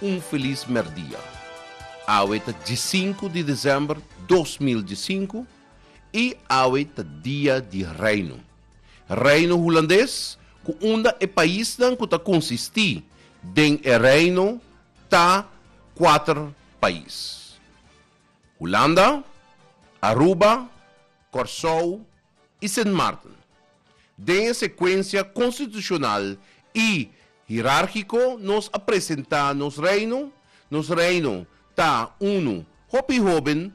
Un felis mèrdia. Awe ta diesinku di desèmber dos mil diesinku i awe ta Dia di Reino. Reino Hulandes ku unda e paisnan ku ta konsistí den e reino ta kuater pais, Hulanda, Aruba, Kòrsou i Sint Maarten. Den e sekuensia konstitushonal i hirárkiko nos a presentá nos reino, nos reino ta unu hopi hóben,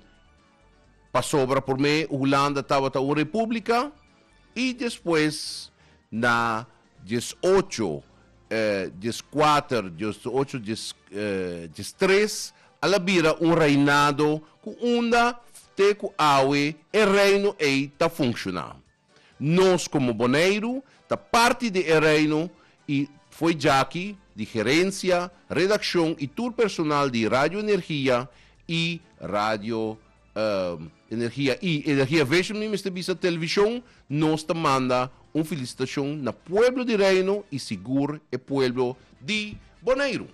pasobra promé Hulanda tabata un repúblika i despues na Djes ocho, djes kuater, djes ocho, djes, djes tres, a la bira un reinado ku unda te ku awe e reino ei ta funshoná. Nos komo Boneiru ta parti di e reino i foi djaki di gerensia, redakshon i tur personal di Radio Energia i Radio Um, energia i energia vision mi mester bisa television nos ta manda un felicitacion na pueblo di reino i sigur e pueblo di Boneiru.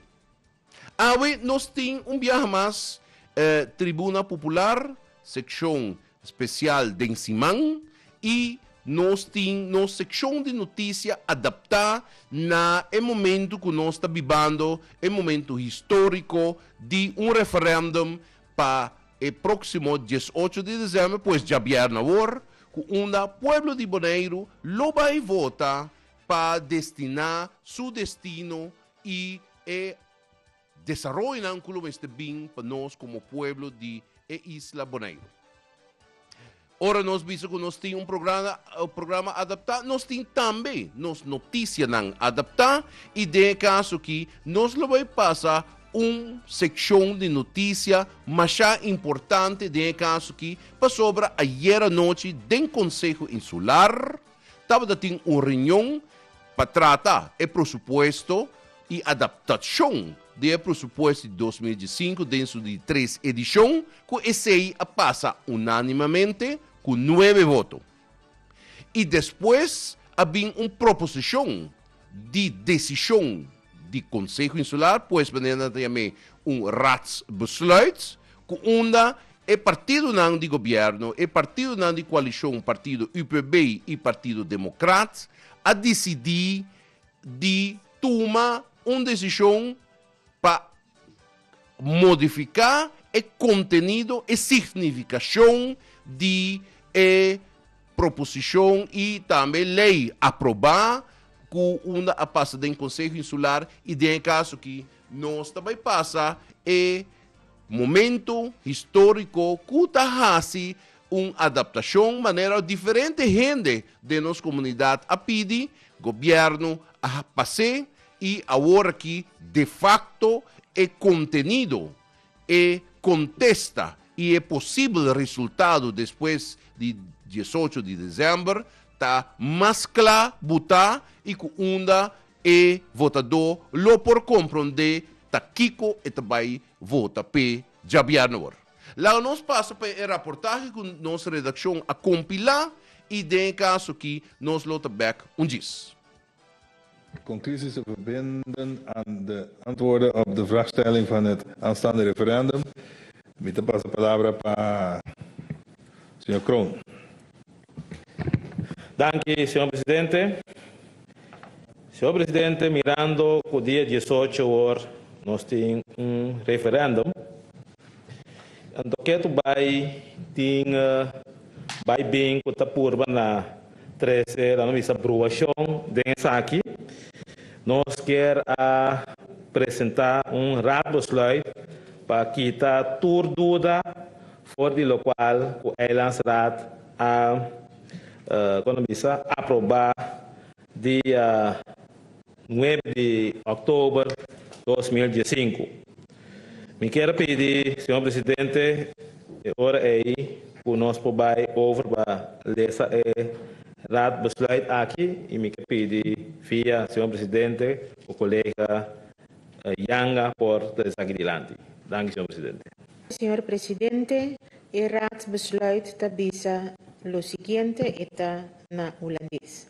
Awe nos tin un biaha mas eh, tribuna popular seccion special den siman i nos tin nos seccion di noticia adapta na e momento cu nos ta bibando e momento historico di un referendum Pa e próksimo diesocho di desèmber, pues djabièrnè awor, ku unda pueblo di Boneiru lo bai vota pa destiná su destino i e desaroyonan ku lo mester bin pa nos komo pueblo di e isla Boneiru. Ora nos bisa cu nos tin un programa, programa adaptá, nos tin tambe nos noticianan adaptá y den e caso aquí nos lo bay pasa un seccion di noticia masha importante den e caso aquí pasobra ayer anochi den Conseho Insular, Tabata tin un reunion pa trata e presupuesto y adaptacion di e presupuesto di dos mil diescinco den su di tres edicion, cu esey a pasa unanimamente cu nuebe voto. Y despues a bin un proposicion di decision di Konseho Insular, pues manera nan ta yam'é un raadsbesluit, ku unda e partidonan di gobièrnu, e partidonan di koalishon partido UPB i Partido Demokrat a disidí di tuma un desishon pa. modifiká e kontenido, e signifikashon di e proposishon i tambe lei aprobá ku unda a pasa den Konseho Insular i den e kas aki nos ta bai pasa e momentu históriko ku ta hasi un adaptashon manera diferente hende den nos komunidat a pidi, gobièrnu a pas'é I awor aki de facto e contenido, e contesta y e posibel resultado despues di diesocho di december ta mas cla buta y cu unda e votador lo por comprende ta kico e ta bay vota p'e djabier awor. Laga nos pasa pa e raportahe cu nos redaccion a compila y den e caso aki nos lo ta bek un djis. Conclusies te verbinden aan de antwoorden op de vraagstelling van het aanstaande referendum. Mi ta pasa palabra pa señor Kroon. Danki, señor presidente. Señor presidente, mirando cu dia diesocho awor nos tin un referendum, anto ke tu bay tin bay bin cu ta purba na. Trece ta nos bisa bruashon den esaki. Nos kier a presenta un Raadbesluit pa kita tur duda for di locual cu Eilandsraad a con ta bisa aproba di Nueb di Oktober dos mil diesinku. Mi kier pidi, Señor Presidente, e ora ei ku nos por bai over pa lesa e Raadbesluit aki i mi ke pidi via Señor Presidente ku kolega Janga por ta esaki dilanti. Danki, Señor Presidente. Señor Presidente, e Raadbesluit ta bisa lo siguiente, e ta na Hulandes.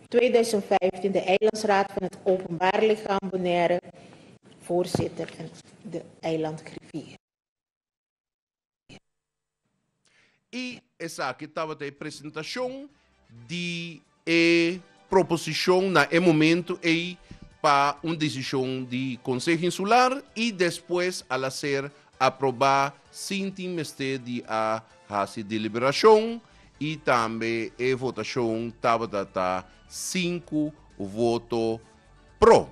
2015 de Eilandsraad van het Openbaar Lichaam Bonaire, voorzitter en de eilandgriffier. Y esaki tabata e presentacion di e proposicion na e momento ey pa un decision di Conseho Insular y despues a la ser Aprobá sin tin mester di a hasi deliberashon i tambe e votashon tabata ta sinku voto pro.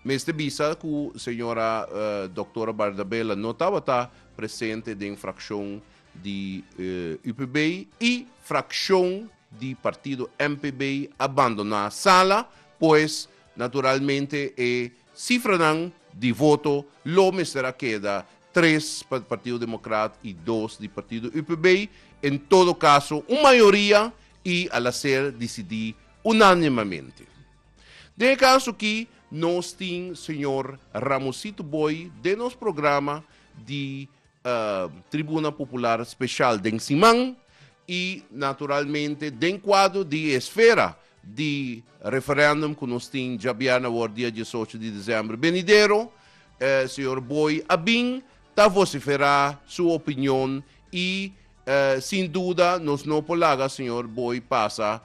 Mester bisa ku señora Doktora Bardabella no tabata presente den frakshon di UPB i frakshon di partido MPB a bandoná sala, pues naturalmente e Sifranan di voto lo mester a keda tres pa e Partido Democrat y dos di Partido UPB, en todo caso un mayoria y a la ser dicidi unanimamente. Den e caso aki nos tin señor Ramosito Booi den nos programa di Tribuna Popular Special den siman y naturalmente den cuadro di e esfera di referendum cu nos tin djabièrna awor dia diesocho di december benidero, Señor Booi a bin ta vocifera su opinion y sin duda nos no por laga Señor Booi pasa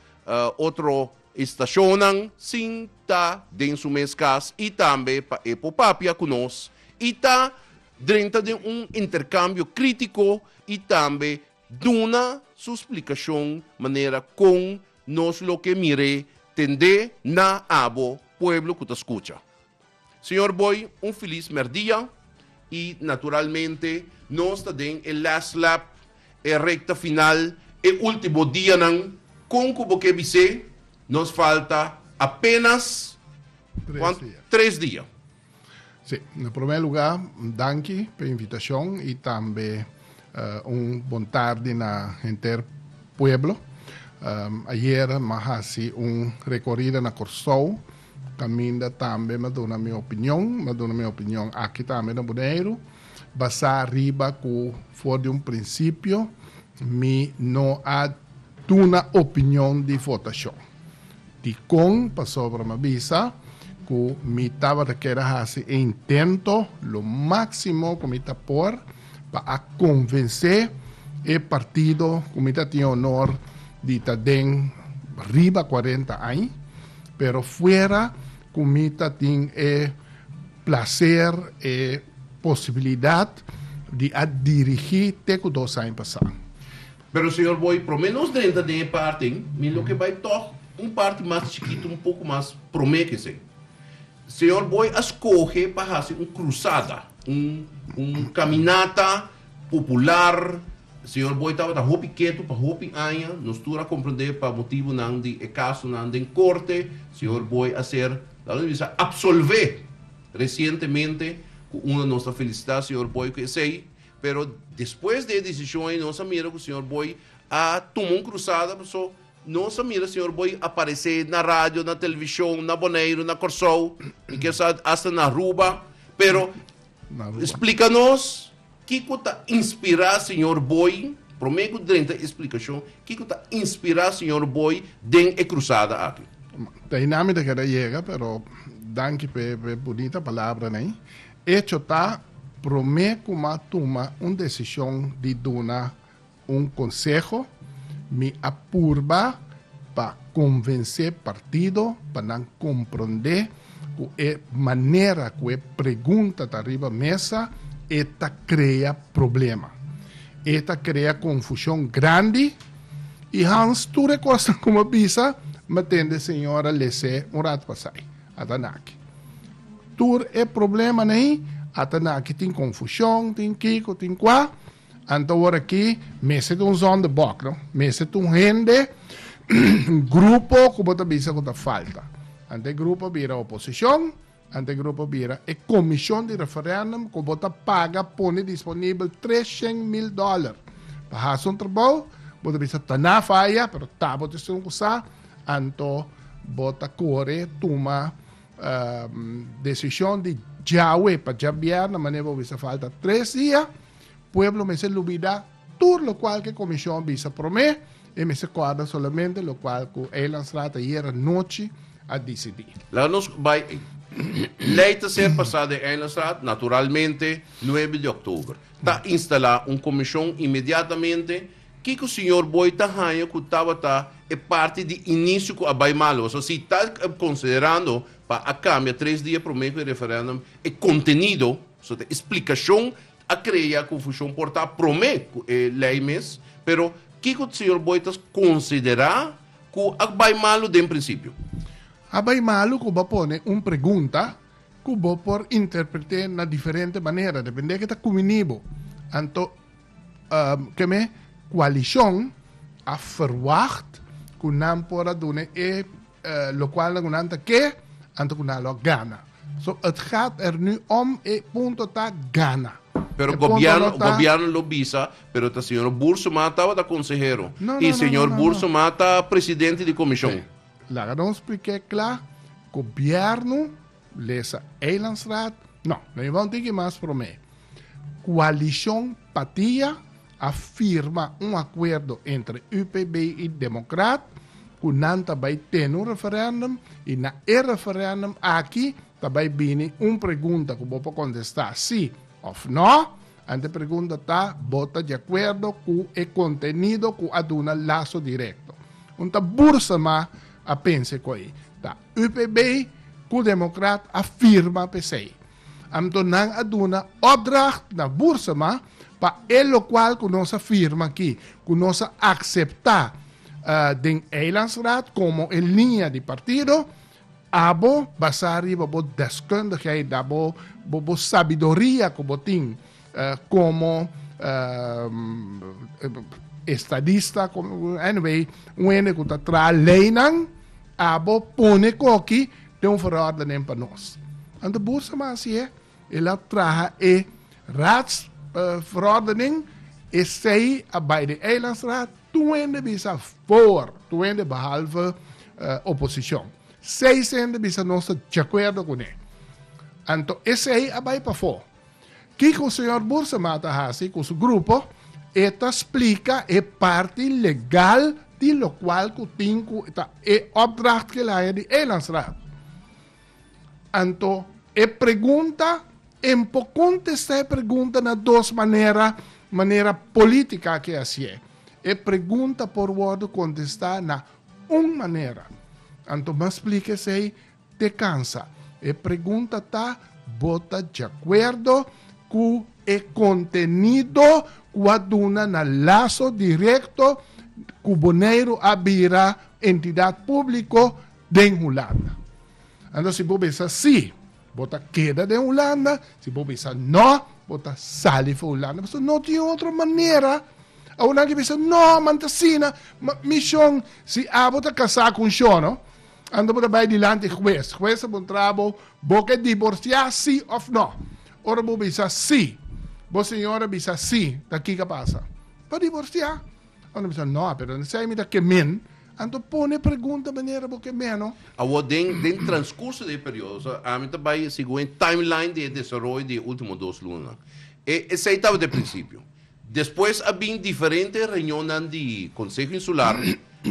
otro estacionnan sin ta den su mes cas y tambe pa e popapia cu nos y ta Drenta den un interkambio krítiko i tambe duna su splikashon manera kon nos lo ke mir'é tendé na abo pueblo ku ta skucha. Señor Boy un filis mèrdia i naturalmente nos ta den e last lap, e rekta final, e último dianan, kon ku bo ke bis'é nos falta apenas Tres dia. tres dia. Sí, na promé lugá danki pa e invitashon i tambe un bon tardi na henter pueblo. Ayer m'a hasi un rekorida na Kòrsou kaminda tambe m'a duna mi opinion. M'a duna mi opinion aki tambe na Boneiru basá riba ku for di un prinsipio mi no a duna opinion di votashon. Dikon pasobra mi a bisa ku mi tabata keda hasi e intento lo máksimo ku mi ta por pa a konvensé e partido ku mi ta tin e onor di ta den riba kuarenta aña, pero fuera ku mi ta tin e plaser, e posibilidat di a dirigí te ku dos aña pasá. Pero señor bo y prome nos drenta den e parten mi lo ke bay tog un parti mas chikito un poko mas prome ke esey. Señor bo a skohe pa hasi un krusada un un kaminata popular señor bo tabata hopi ketu pa hopi aña nos tur a komprende pa motibunan di e kasonan den korte señor bo a ser la nos bisa apsolve resientemente ku uno nos ta felisita señor bo ku esey Pero despues di e decision ey nos a mira cu señor Boy a tuma un crusada paso nos a mira señor Boy a parece na radio, na television, na Boneiru, na Corsou, mi kier sa hasta na Aruba, pero explica nos kico ta inspira señor Boy, prome cu drenta explicacion, kico ta inspira señor Boy den e crusada aki? Te na mi ta keda yega pero danki pe bonita palabranan. Echo ta, promé ku m'a tuma un desishon di duna un konseho, mi a purba pa konvensé partido pa nan komprondé ku e manera ku e pregunta ta riba mesa e ta krea problema. E ta krea konfushon grandi i Hans tur e kosnan ku m'a bisa m'a tende señora Lessé un rat pasai. Ata na aki. Tur e problemanan ei ata na aki tin confusion, tin kiko, tin kua. Anto ora aki mester ta un zonderbok, no? Mester ta un hende, un grupo cu bo ta bisa cu ta falta. Anto e grupo a bira oposicion, anto e grupo a bira e comision di referendum cu bo ta paga pone disponibel tres shen mil dollar pa haci un trabou, bo ta bisa ta na faya pero ta bo ta scet un cu sa. Anto bo ta kore tuma desishon di djawe pa djabièrnè, manera bo bisa falta tres dia, pueblo mester lubidá tur lokual ku e komishon bisa promé, e mester kòrda solamente lokual ku Eilandstraat ayera anochi a disidí. Laga nos bai Lei ta ser pasá den Eilandstraat naturalmente nuebe di òktober. Ta instalá un komishon inmediatamente Kiko Señor Boy ta haña cu tabata e parti di inicio cu a bay mal? Pasobra si ta considerando pa a cambia tres dia prome cu e referendum, e contenido, pasobra ta e explicacion a crea confusion por ta prome cu e ley mes, pero kiko Señor Boy ta considera cu a bay malo den principio? A bay malo cu bo pone un pregunta cu bo por interprete na diferente manera depende cu ta cumini bo. Anto. Keme koalishon a ferwagt ku nan por a duna e lokual na ku nan ta ke anto ku nan lo a gana. So et gaat er nu om, e punto ta gana. Pero gobièrnu gobièrnu lo bisa, pero ta señor Boorsuma tabata konsehero i señor Boorsuma ta presidente di komishon. Laga nos spliké kla, gobièrnu. Lesa Eilandsraad, No, lo lleva un tiki mas promé. Coalicion Patia a firma un acuerdo entre UPB y Democraat cu nan ta bay tene un referendum y na e referendum aki ta bay bini un pregunta cu bo por contesta si of no. Ant e pregunta ta, Bo ta di akuerdo ku e kontenido ku a duna laso direkto? Un ta Boersema a pense ku ei ta UPB ku Democrat a firma p'esei. Anto nan a duna opdracht na Boersema pa e lokual ku nos a firma aki, ku nos a akseptá den Eilandsraad komo e liña di partido, Abo, basá riba bo deskundigheid, da bo bo sabiduria ku bo tin komo estadista, anyway, un hende ku ta traha leinan, abo pone koki den un verordening pa nos. Anto bursa mas hasié. El a traha e Raadsverordening, esei a bai den Eilandsraad, tur hende bisa foor, tur hende behalve oposicion. Seis hende bisa nos ta diacuerdo cu ne. Anto esei a bai pafoor. Kico señor Boersema a ta haci cu su grupo? E ta splica e parti legal di locual cu tin cu ta e opdracht cu el haña di Eilandsraad. Anto, e pregunta, en por contesta e pregunta na dos manera, manera politica ke hacié. E pregunta por wordo contesta na un manera. Anto m'a splica esey te cansa. E pregunta ta, bo ta djacuerdo cu e contenido cu a duna na laso directo cu Boneiru a bira entidad publico, den Hulanda. Anto si bo bisa sí, bo ta keda den Hulanda, si bo bisa no, bo ta sali for Hulanda, pasobra no tin otro manera. Awor nan ke bisa, no, man ta asina, ma mi shon, si abo ta kasá ku un shono, anto bo ta bai dilanti e hues, hues ta puntra bo, bo ke diborsiá sí òf no? Ora bo bisa sí, bo señora bisa sí, ta kiko a pasa? Pa diborsiá, Ora mi sa no, pero si mi ta ke men, anto pone pregunta manera bo ke meno. Awor den den transcurso di e periodo, ami ta bai segun e timeline di e desaroyo di e ultimo dos lunanan. E esei tabata e principio. Despues a bin diferente reunionnan di Conseho Insular,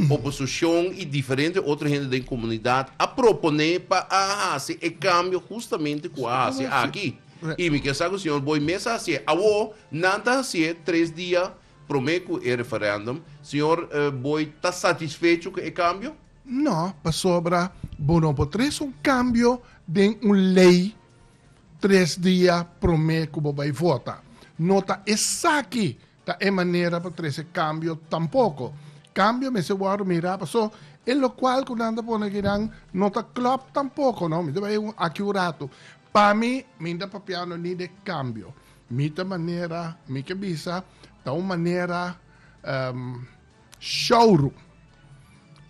oposicion y diferente otro hende den comunidad a propone pa a haci e cambio justamente cu a haci aki. Y mi kier sa cu señor Boimez a haci'e. Awor nan ta haci'e tres dia Prome cu e referendum, Sr. Booi ta satisfecho cu e cambio? No, pasobra bo no por tres un cambio den un ley tres dia prome cu bo bay vota. No ta esaki ta e manera pa tres e cambio tampoco. Cambio mester wordo mira paso e locual cu nan ta pone aki nan no ta clop tampoco, no. Mi ta bay aki un rato. Pa mi, mi no ta papiando ni de cambio. Mi ta manera, mi ke bisa, ta un manera um, showroom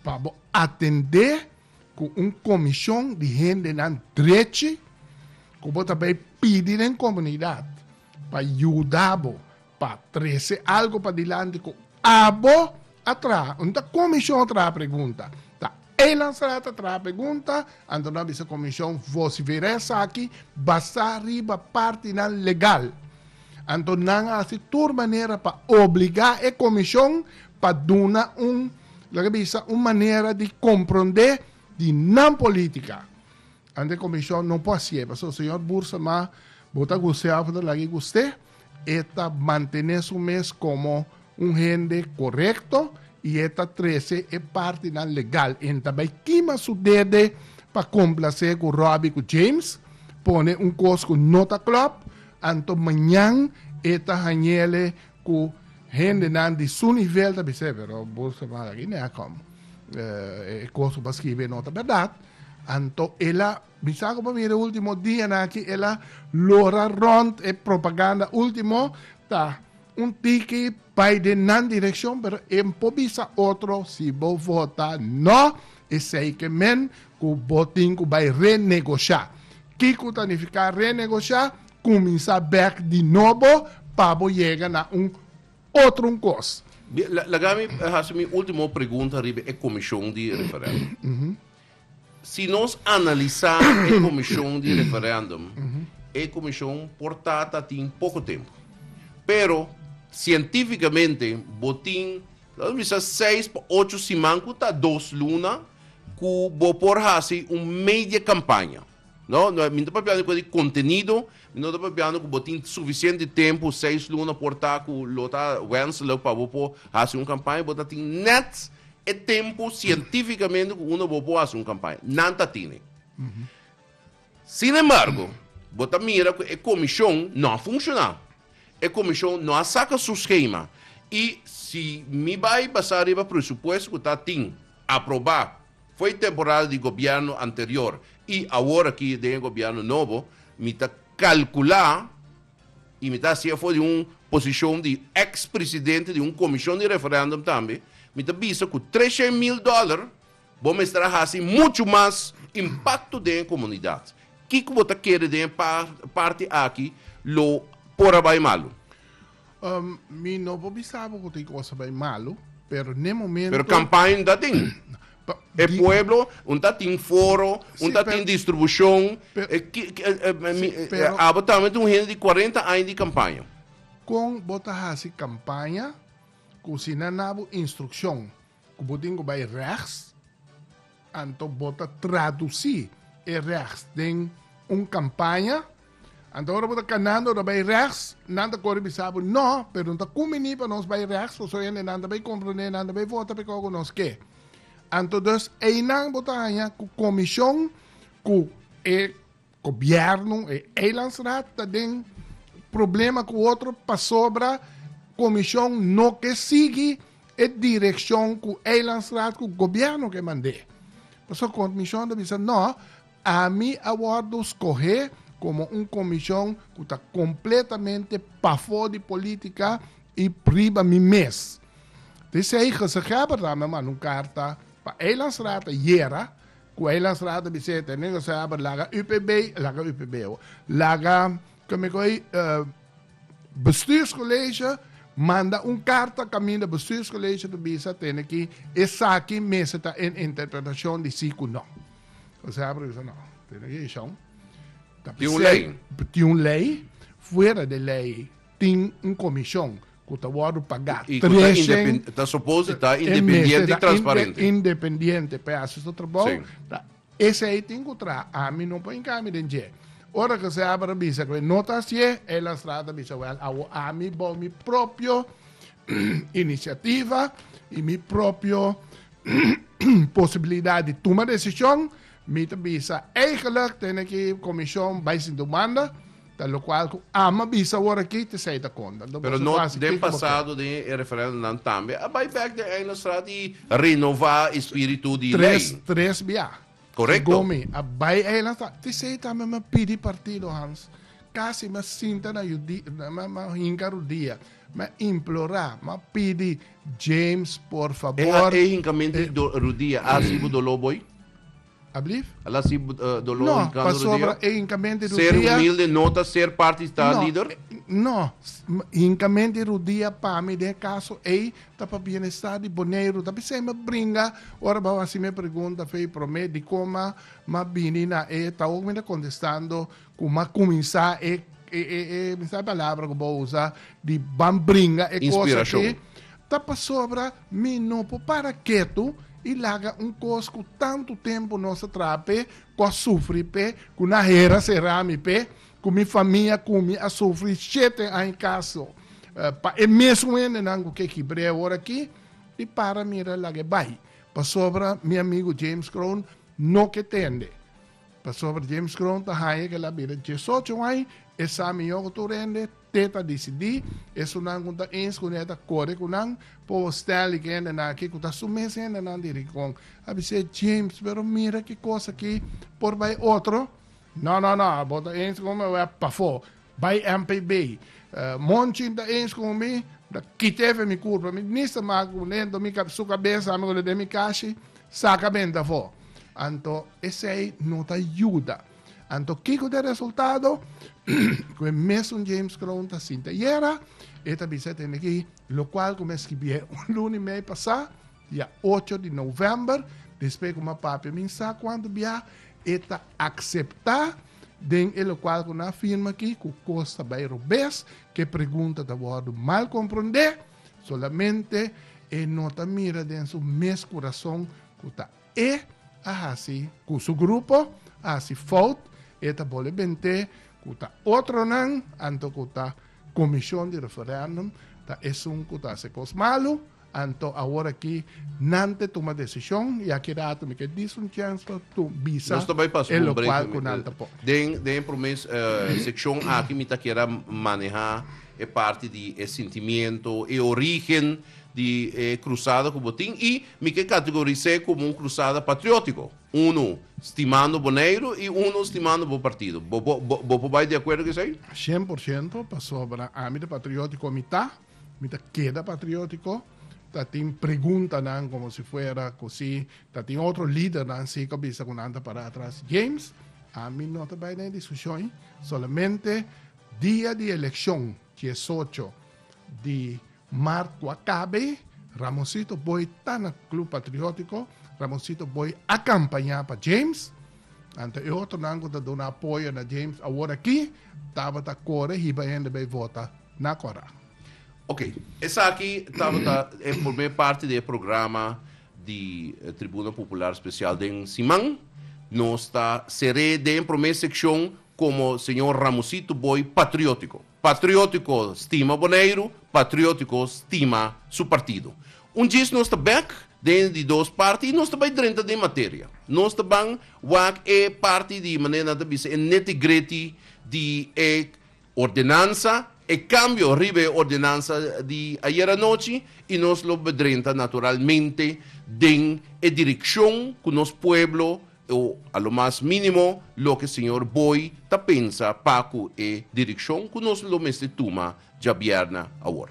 pa bo atendé ku un komishon di hendenan drechi ku bo ta bai pidi den komunidat pa yuda bo pa trese algu padilanti ku Abo a traha? No ta Comision a traha pregunta, ta E Lancerat a traha pregunta, anto no a bisa Comision vocifer'e esaki basá riba partinan legal. Anto nan a haci tur manera pa obligá e Comision pa duna un, laga bisa, un manera di comprendé di nan politica. Anto e Comision no por haci'e, pasobra Señor Boersema bo ta gustea fu ta lag'e gust'e. E ta mantené su mes komo un hende korekto i e ta trese e partinan legal. E no ta bai kima su dede pa komplasé ku Robbie ku James, pone un kos ku no ta klòp, anto mañan e ta hañele ku hendenan di su nivel ta bis'é, Pero bo sa aki nea kòm e kos ku bo a skibi no ta bèrdat, anto el a Mi sa cu pa mira e ultimo dianan aki el a lora rond e propaganda ultimo ta un tiki bay den nan direccion pero e por bisa otro si bo vota no esey ke men cu bo tin cu bay renegocia. Kico ta nifica renegocia? Cuminsa bek di nobo pa bo yega na un otro un cos. Bien, laga mi hasi mi ultimo pregunta riba e comision di referendum. Si nos analisá e komishon di referèndum, e komishon por ta ta tin poko tempu. Pero, sientífikamente bo tin, lo nos bisa, seis pa ocho siman, ku ta dos luna, ku bo por hasi un media kampaña. No, no, mi no ta papiando di cuenta di contenido, mi no ta papiando cu bo tin suficiente tempo, seis luna por ta cu lo ta wenselijk pa bo por haci un campaña, bo ta tin net e tempo cientificamente cu uno bo por haci un campaña. Nan ta tin e. Sin embargo, bo ta mira cu e comision no a funciona. E comision no a saca su schema. Y si mi bay basa riba presupuesto cu ta tin, aproba, Foi temporada di gobierno anterior y awor aki den e gobierno nobo mi ta calcula y mi ta haci afo di un posicion di ex presidente di un comision di referendum tambe, mi ta bisa cu treshen mil dollar bo mester a haci mucho mas impacto den e comunidad. Kico bo ta kere den e parte aki lo por a bay malo? Mi no por bisa bo cu ta e cosa bay malo, pero n'e momento. Pero campaña ta tin. E pueblo un ta tin foro, un ta tin distribucion. Abo tambe un hende di cuarenta aña di campaña. Con bo ta haci campaña cu si nan na bo instruccion? ku bo tin ku bai rechts, anto bo ta tradusí e rechts den un kampaña. Anto ora bo ta kanando ta bai rechts, nan ta kore bisa bo, no, pero no ta kumbiní pa nos bai rechts, pasobra hendenan ta bai komprondé, nan ta bai vota p'e kos ku nos ke. Anto dus einan bo ta haña ku komishon ku e Gobierno e eilandsraad ta den problema cu otro pasobra comision no ke sigui e direccion cu eilandsraad cu gobierno ke mande. Pasobra comision ta bisa no ami a wordo scohe como un comision cu ta completamente pafo di politica y riba mi mes. Te esey gezaghebber ta mi a manda un carta pa eilandsraad ayera Cu hay las rata bisey te negociar pa laga UPB, laga UPB awo. Laga, con mi coge, eh, bestuurscollege manda un carta caminda bestuurscollege ta bisa tene ki esaki mester ta en interpretacion di si cu no. Conseho a bisa no, tene ki eshon. Ta Tin un bisey, ley. tin un ley, fuera de ley. tin un komishon ku ta wòrdu pagá tresen mes, independiente pa e hasi su trabou, ta esei tin ku traha, ami no por hinká mi den dje. Ora ku Seabra bisa ku e no ta hasié, el a sra ta bisa, wèl, awo ami bou mi propio inisiativa i mi propio posibilidat di tuma desishon, mi ta bisa, eigelik tene ki komishon bai sintu manda, Ta locual cu ama bisa awor aki te sa e ta conta. Pero no den pasado den e referendum nan tambe a bai back den Eina Straat y renova e spiritu di ley. Tres, tres bia. Correcto. Gomi a bai Eina Straat. Te sa e tambe mi a pidi partido Hans. Casi mi a sinta na yu di, mi a hinca rudia, mi a implora, mi a pidi, James por favor. E hincamento di rudia a hasi bo dolor bo ey? Ablief? A la si doló i No, kando rodeo? pasobra e hinkamente Ser rudia, humilde no ta ser parti di ta no, lider? eh, no, s- m- hinkamente rudia pa mi den e kaso ei ta pa bienestar di Boneiru. Ta bisei mi bringa ora bo a hasi mi e pregunta, Fey, promé dikon ma mi a bini na e tahoog mi ta kontestando Ku m'a kuminsá e, e, e, e, mi sa e palabra ku bo usa, di ban bringa e kos aki, ta pasobra mi no por para ketu i laga un kos ku tantu tempu nos a traha p'e, ku a sufri p'e, ku na hera será mi p'e, ku mi famia ku mi a sufri shete aña kaso pa e mesun hendenan ku ke kibr'é ora aki, i para mira laga e bai. Pasobra mi amigu James Crown no ke tende. Pasobra James Cron ta haña ke la bira diesocho ai, e sa mihó ku tur hende te ta disidí esunnan ku ta ins kuné ta kore ku nan pa bo Stanley ke hendenan akí ku ta su mes hendenan di rinkon. A bis'é, James, pero mira ki kos akí por bai otro. Nò, nò, nò, abo ta ins ku mi? Wèp pafó! Bai MPB. Monchi ta eensh ku mi, ta kita efe mi kurpa. Mi minister maka ku mi dor mi kab su kabesa ami ku lo den mi kashi saka benta afó. Anto esei no ta yuda. Anto kiko ta e resultado? Ku e mesun James Kroon ta sinti ayera, e ta bisa e tende aki, lokual ku mi a skibié un luni mei pasá, I a ocho di novèmber, despues ku m'a papia mi sa kuantu bia, e ta akseptá den e lokual ku nan a firma aki ku kos ta bai robes, ku e pregunta ta wòrdu mal komprondé, solamente e no ta mira den su mes kurason ku ta e a hasi, ku su grupo a hasi fout, e ta bole bent'é ku ta otronan, anto ku ta komishon di referèndum, ta esun ku ta hasi kos malu, Anto awor aki nan te tuma desishon i aki rato mi ke dis un chèns pa bisa e lokual ku nan ta por. Den e promé sekshon aki mi ta kera manehá e parti di e sintimiento, e orígen di e krusada ku bo tin i mi ke kategoris'é komo un krusada patriótiko, unu stimando Boneiru i unu stimando bo partido. Bo por bai di akuerdo ku esei? Shen por shento, pasobra ami ta patriótiko, mi ta. Mi ta keda patriótiko, ta tin preguntanan komo si fuera ku si ta tin otro lidernan si ku a bisa ku nan ta pará atras. James, Ami no ta bai na e diskushon. Solamente dia di elekshon, diesocho di mart ku a kaba ei, Ramonsito Booi ta na Club Patriótiko, Ramonsito Booi a kampañá pa James, anto e otronan ku ta duna apoyo na James aworakí tabata kore hiba hende bai vota Na Cora. Ok, esaki tabata e prome parti di e programa di Tribuna Popular Special den siman. Nos ta ser'é den prome seccion como señor Ramosito Boy patriotico. Patriotico stima Boneiru, patriotico stima su partido. Un djis nos ta bek den di dos parti y nos ta bay drenta den materia. Nos ta ban wak e parti di manera nan ta bisa e neti-greti di e Ordenansa, e kambio riba e ordenansa di ayer anochi i nos lo bedrenta naturalmente den e direkshon ku nos pueblo o a lo mas mínimo loke señor Booi ta pensa pa ku e direkshon ku nos lo mester tuma djabièrna awor.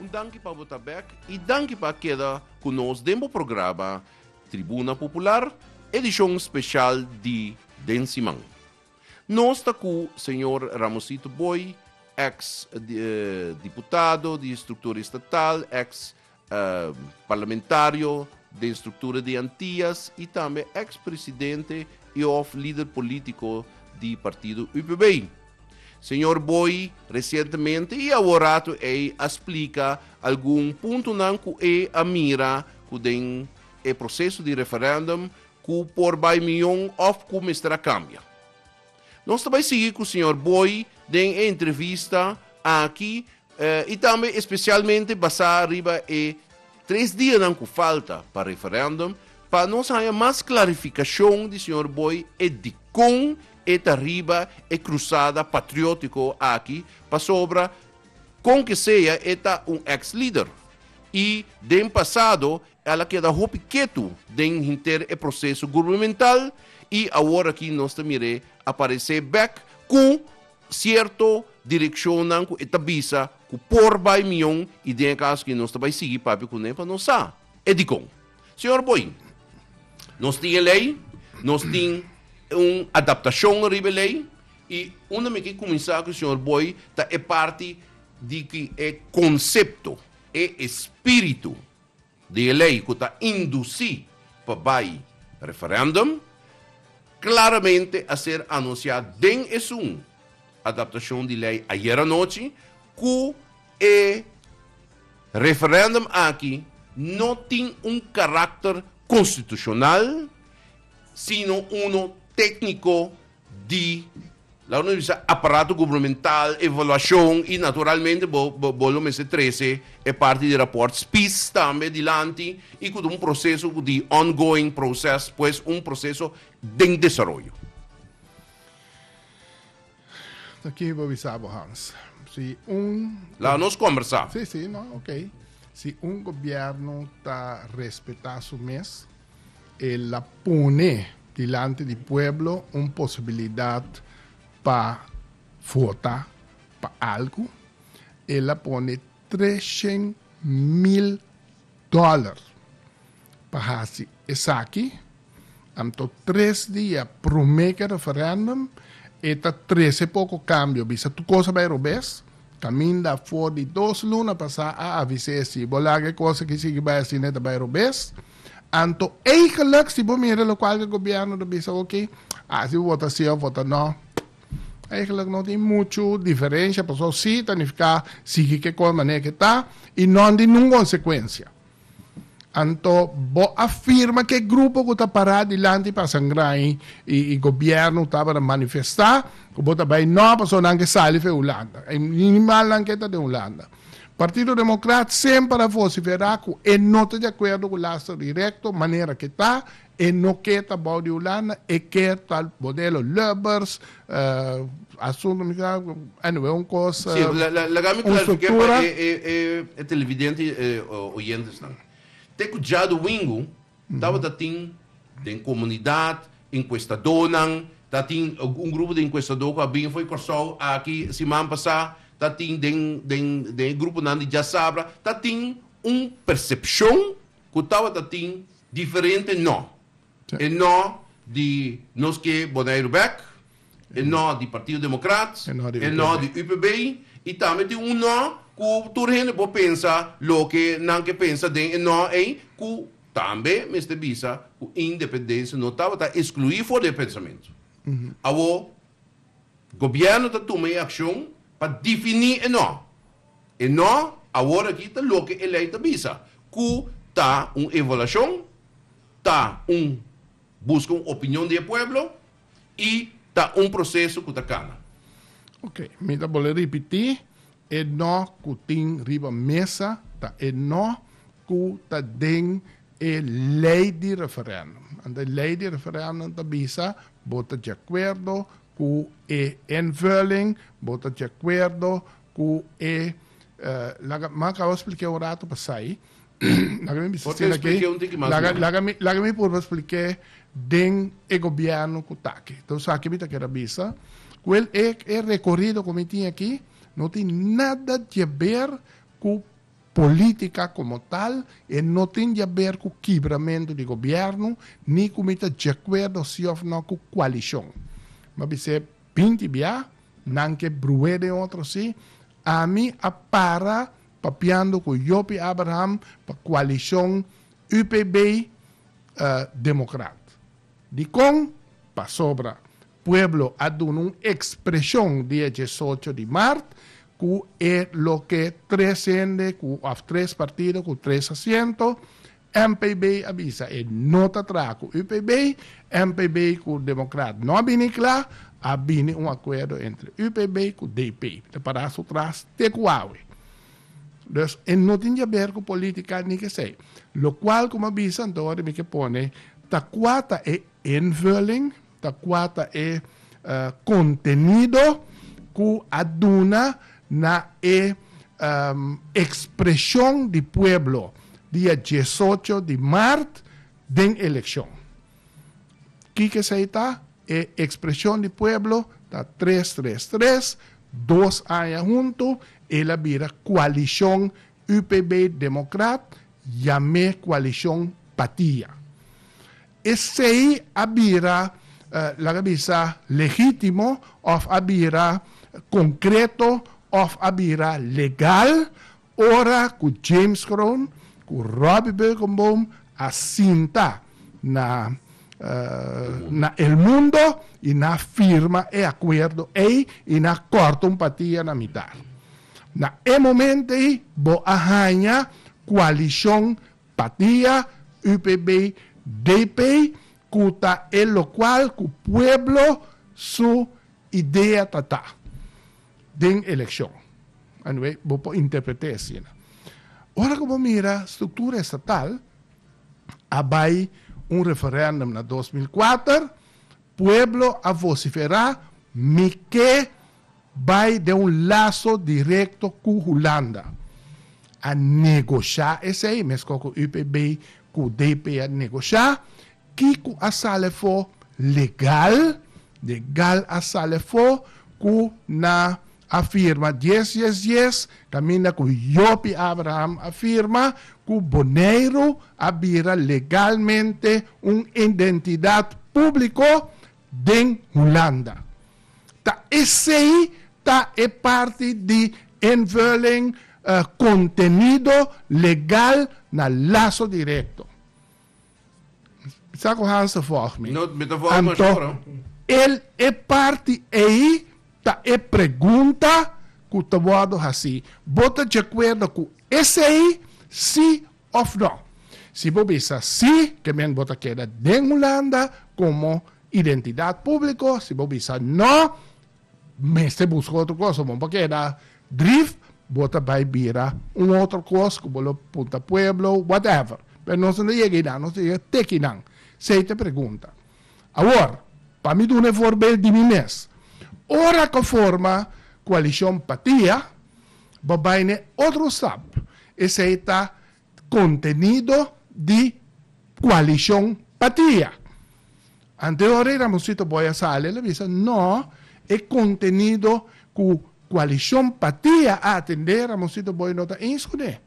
Un danki pa bo ta bek y danki pa a keda cu nos den bo programa Tribuna Popular, edicion special di den siman. Nos ta cu Señor Ramosito Booi, ex Diputado di Structura Estatal, ex Parlamentario den struktura di Antias i tambe eks presidente i òf lider polítiko di partido UPB. Señor Booi resientemente i aworatu ei a splika algun puntonan ku e a mira ku den e proseso di referèndum ku por bai mion òf ku mester a kambia. Nos ta bai sigui cu Señor Booi den e entrevista aki y tambe especialmente basá riba e tres dianan cu falta pa referendum pa nos haya mas clarificacion di Señor Booi e dicon e ta riba e cruzada patriotico aki pasobra con que sea e ta un ex-lider y den pasado El a keda hopi ketu den henter e proseso gurbemental y awor aki nos ta mir'é aparecé bek cu cierto direccionnan cu e ta bisa cu por bay mion y den e caso aki nos ta bay sigui papia cun'é pa nos sa e dicon. Señor Boeing, nos tin e ley, nos tin un adaptacion riba e ley y unda mi ke cuminsa cu señor Boey ta e parti di cu e concepto, e espiritu, di e lei ku ta indusí pa bai referèndum, klaramente a ser anunsiá den esun adaptashon di lei ayer anochi ku e referèndum aki no tin un karakter konstitushonal sino uno tékniko, Di, laga nos bisa, aparato gubernamental, evaluashon i naturalmente bo bo lo mester trese e parti di rapòrt spis tambe dilanti i ku ta un proseso ku di ongoing proces, pues un proseso den desaroyo. Ta ki bo bisa bo Hans. Si un. Laga nos kombersá. Si, si, no, ok. Si un gobièrnu ta respetá su mes. El a pone dilanti di pueblo un posibilidad pa vota pa algu. El a pone treshen mil dollar pa haci esaki. Anto tres dia prome ki referendum e ta trece poco cambio. Bisa tur cosa bay robes. Caminda afor di dos luna pasa a avise e si bo laga e cosa ki sigui bay asina e ta bay robes. Anto eigenlijk si bo mira lokual ke gobièrnu ta bisa oke, a si bo vota si òf vota nò, eigenlijk no tin muchu diferensha pasobra si ta nifiká sigui ke kos manera ke ta i nò tin ningun konsekuensia. Anto bo a firma ke grupo ku ta pará dilanti pa sangrá i i gobièrnu ku tabata manifestá ku bo ta bai nò pasobra nan ke sali for e Hulanda. Ai minimal nan ke ta den Hulanda. Partido Democrat semper a vociferá cu e no ta di acuerdo cu laster directo manera ke ta, e no ke ta bao di Hulanda, e ke ta modelo Lubbers, asunto mi sa, anyway un cos, un structura. Tabata tin den comunidad encuestadonan, ta tin un grupo di encuestador cu a bini fo'i Corsou aki siman pasa, ta tin den den den e gruponan di Diasabra, ta tin un percepcion cu tabata tin diferente no, e no di nos ke Boneiru bek, E nò di Partido Democrat, e nò di UPB y tambe tin un nò cu tur hende por pensa loke nan ke pensa den e nò ey cu tambe mester bisa cu independencia no tabata exclui for di e pensamento. Awor Gobierno ta tuma e accion pa defini e nò. E nò awor aki ta loke e ley ta bisa cu ta un evaluacion, ta un busca un opinion di e pueblo y ta un proceso cu ta cana. Ok, mi ta bol'e ripiti, e no cu tin riba mesa ta e no cu ta den e ley di referendum. Anto e ley di referendum ta bisa, bo ta diacuerdo cu e invulling, bo ta diacuerdo cu e, laga mi a caba splik'e un rato pasai. laga mi bisa Por te sin aki. expliqué un tiki mas Laga, bien. laga, mi, laga mi purba expliqué den e gobierno cu ta aki. Ta un sa ki mi ta keda bisa. Cu el, e, e recorrido cu mi tin aki no tin nada di a ber cu politica como tal, e no tin di a ber cu kibramento di gobierno, ni cu mi ta djacuerdo si of no cu coalicion. Mi a bis'é binti bia, nan ke bruhé den otro si, ami a para Papiando cu Joppie Abraham pa coalicion UPB, Democrat. Dicon? Pasobra pueblo a duna un expresion dia diesocho di mart cu e loke tres hende cu of tres partido cu tres asiento NPB a bisa e no ta traha ku UPB, NPB ku Democrat no a bini kla, a bini un akuerdo entre UPB ku DP ta pará su tras te ku awe. Dus e no tin diaber ku politika ni kesei. Lokual, komo a bisa anto, mi ke pone ta kua ta e Invulling ta kua ta e kontenido ku a duna na e ekspreshon di pueblo dia diesocho di mart den elekshon. Kiko esei ta? E ekspreshon di pueblo ta tres tres tres, dos aña huntu, el a bira kualishon UPB-Demokrat, yam'é kualishon Patia. Esei a bira, laga mi sa, legítimo òf a bira konkreto òf a bira legal ora ku James Kroon ku Robbie Berkenboom a sinta na na El Mundo i nan a firma e akuerdo ei i nan a kòrta un patia na mitar. Na e momento ei bo a haña kualishon Patia, UPB, DP, cu ta e locual cu pueblo su idea ta ta den eleccion. Anyway, bo por interprete asina. Ora cu bo mira structura estatal, a bay un referendum na dos mil kuater, pueblo a vocifera, mi ke bai den un laso direkto ku Hulanda. A negoshá esei meskor ku UPB ku DP a negoshá. Kiko a sal afó legal? Legal a sal afó ku na a firma dies dies dies kaminda ku Joppie Abraham a firma ku Boneiru a bira legalmente un identidat públiko. den Hulanda. Ta esei ta e parti di invulling kontenido legal na Lazo Directo. Mi sa ku Hans ta vòg mi. Anto el e parti ei ta e pregunta ku ta wòrdu hasí. Bo ta djakuerdo ku esei, sí òf nò. Si bo bisa sí, ke men bo ta keda den Hulanda komo identidat públiko. Si bo bisa nò, mester buska otro kos omon pa keda. Drief, bo ta bai bira un otro kos ku bo lo punta pueblo, whatever. Pero nos no ta yega einan, nos ta yega te kinan. Sei ta e pregunta. Awor, pa mi duna e forbel di mi mes. Ora ku a forma koalishon Patia, Bo bai na e otro stap, esei ta kontenido di koalishon patia. Anteori Ramoncito Boy a sali, el a bisa, no, e kontenido ku koalishon patia a atendé, Ramoncito Boy no ta eens kuné.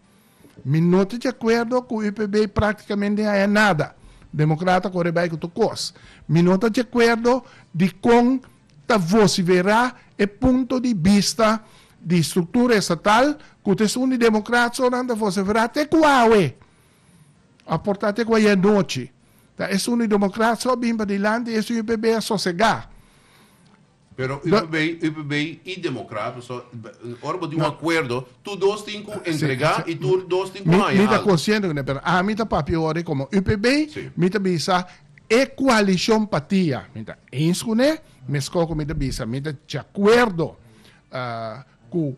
Mi no ta djakuerdo ku UPB i praktikamente haya nada. Demokrata kore bai ku tur kos. Mi no ta djakuerdo di kon ta vosiferá e punto di bista di struktura estatal ku ta esun di demokrat so nan ta vosiferá te ku awe, òf por ta te ku ayanochi. Ta esun di demokrat so a bin padilanti i esun UPB a sosegá. Pero u But- probeer, u probeer i democrato, so b- ora bo tin un No. acuerdo, tu dos tin cu entrega sí. y tu dos tin cu Mi, mi haya ta algo. consciente cu ne, pero ami ta papia awor como UPB, Sí. mi ta bisa e coalición patia. Mi ta eens cu ne, mesco cu mi ta bisa, mi ta de acuerdo ah, cu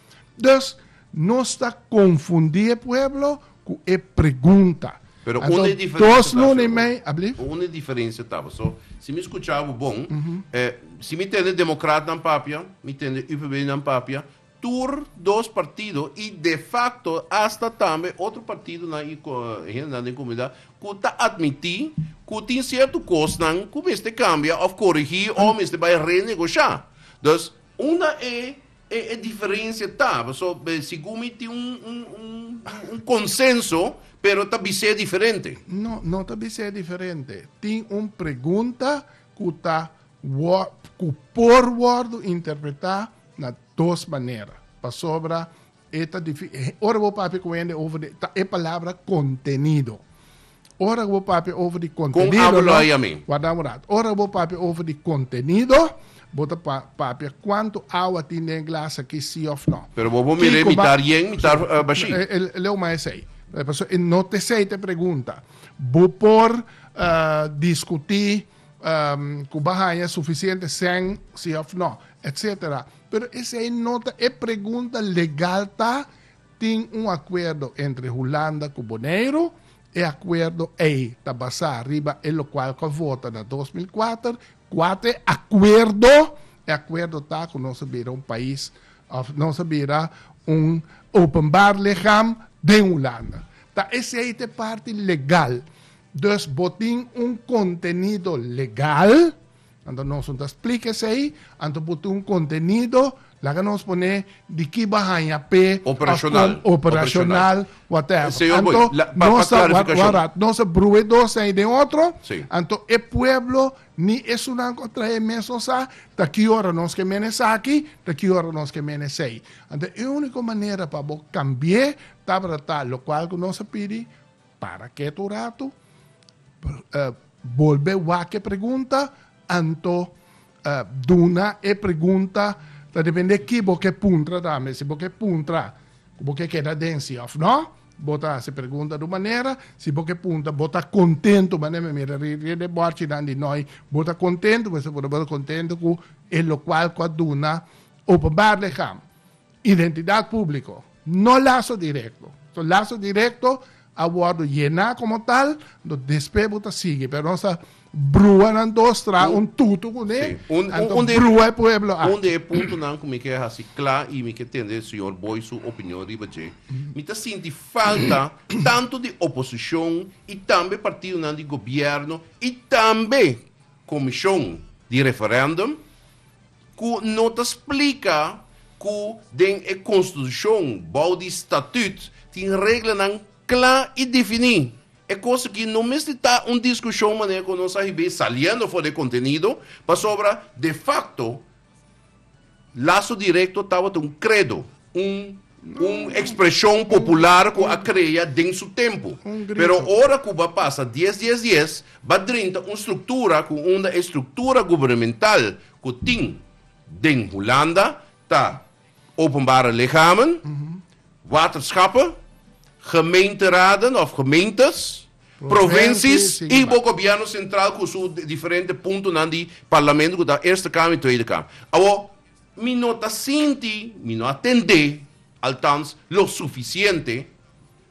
Dus, nos ta konfundí e pueblo ku e pregunta. Pero unda e diferensia ta, sèn Rubén? Unda e diferensia ta? Paso, si mi skucha bo bon, si mi tende demokratnan papia, mi tende UPBnan papia, tur dos partido i defakto asta tambe otro partidonan i hendenan den komunidat ku ta atmití ku tin sierto kosnan ku mester kambia òf korigí o mester bai renegoshá. Dus, unda e E e diferencia ta, paso segun mi tin un un un un consenso pero ta bis'e diferente. No, no ta bis'e diferente. Tin un pregunta cu ta wor cu por wordo interpreta na dos manera pasobra e ta difi ora bo papia cu hende over de ta e palabra contenido. Ora ku bo papia over di kontenido, warda un rato, ora ku bo papia over di kontenido, bo ta papia kuantu awa tin den e glas aki, si òf nò. Pero bo por mira e mitar yen, mitar bashí. E leu mas esei. Pasobra e no ta esei ta e pregunta. Bo por diskutí ku bo a haña sufisiente sèn, si òf nò, etsetera. Pero esei no ta e pregunta legal ta Tin un akuerdo entre Hulanda ku Boneiru. E akuerdo ei ta basá riba e lokual ku a vota na dos mil kuater. Kuat e akuerdo? E akuerdo ta ku nos a bira un pais òf nos a bira un openbar ligham den Hulanda. Ta esei ta e parti legal. Dus bo tin un kontenido legal. Anto nos un ta splika esei, anto por tin un contenido, laga nos pone di ki bo a haña p'e, Operacional. Con operacional, whatever. Señor Boy, Anto la- pa- pa nos ta, wa- clarificacion. wara, nos ta broe dos den ei den otro, Sí. anto e pueblo, ni esunnan cu a traha e mes nos sa ta ki ora nos ke mene esaki, ta ki ora nos ke mene esei. Anto e unico manera pa bo cambi'e, tabata ta, locual cu nos a pidi, Para kiet un ratu, bolbe wak e pregunta, anto duna e pregunta, ta depende ki bo ke puntra tambe. Si bo ke puntra ku bo ke keda den si òf nò, bo ta hasi pregunta di un manera, si bo ke puntra bo ta kontentu, manera mi mira riba di e bòrchinan di noi, bo ta kontentu, bo ta kontentu ku e lokual ku a duna openbaar lichaam. Identidat públiko, no laso direkto. So laso direkto a wòrdu yená komo tal, anto despues bo ta sigui. Pero nos ta brua nan dos tra un tutu kuné, anto brua e pueblo aki. Un di e puntonan ku mi ke hasi kla i mi ke tende señor Boy su opinion riba dje, mi ta sinti falta tantu di oposishon i tambe partidonan di gobièrnu i tambe komishon di referèndum, ku no ta splika ku den e konstitushon, bou di statüt, tin reglanan kla i definí. E kos aki no mester ta un diskushon manera ku nos a hib'é saliendo for di e kontenido, pasobra de fakto laso direkto tabata un kredo. Un ekspreshon popular ku a krea den su tempu, pero ora ku ba pasa dies dies dies ba drinta un struktura ku unda e struktura gubernemental ku tin den Hulanda ta openbare lichamen, waterschappen, gemeenteraden òf gemeentes, provinsies i bo gobièrnu sentral ku su diferente puntonan di parlamento ku ta Eerste Kamer i Tweede Kamer. Awor. Mi no ta sinti, mi no a tendé, altans, lo sufisiente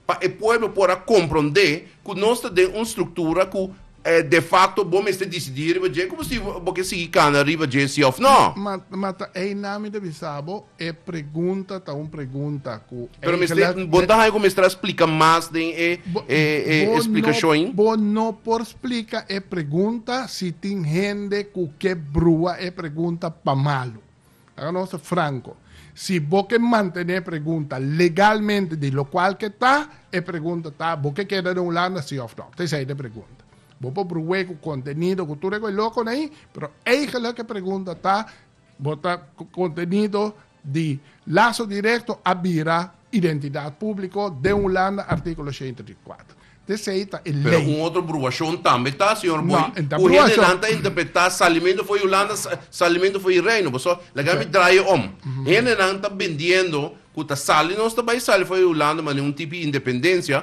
pa e pueblo por a komprondé ku nos ta den un struktura ku de fakto bo mester disidí riba dje ku bo si bo ke sigui kana riba dje si òf nò. Ma, ma ta einan mi ta bisa bo, e pregunta ta un pregunta. Pero mester, bo ta haña ku mester a splika mas den e splikashon? Bo no por splika e pregunta si tin hende ku ke brua e pregunta pa malu. Laga nos ta franko. Si bo ke mantené e pregunta legalmente di lokual ke ta, e pregunta ta, bo ke keda den Hulanda, si òf no? Ta esei ta e pregunta. Bo por bruwé ku kontenido, ku tur e koe lokonan ahí, pero eigelik e pregunta ta, Bo ta kontenido di laso direkto a bira identidat públiko den Hulanda, artíkulo shenta di kuater. Te esei ta e lei. Pero un otro bruashon tambe ta, señor Booi. No, e no ta bruashon. Ku hende nan ta interpretá salimentu fo'i Hulanda, salimentu fo'i Reino. Paso, laga mi draaie om. Hendenan ta bendiendo ku ta sali, nos ta bai sali fo'i Hulanda manera un tipi independensia,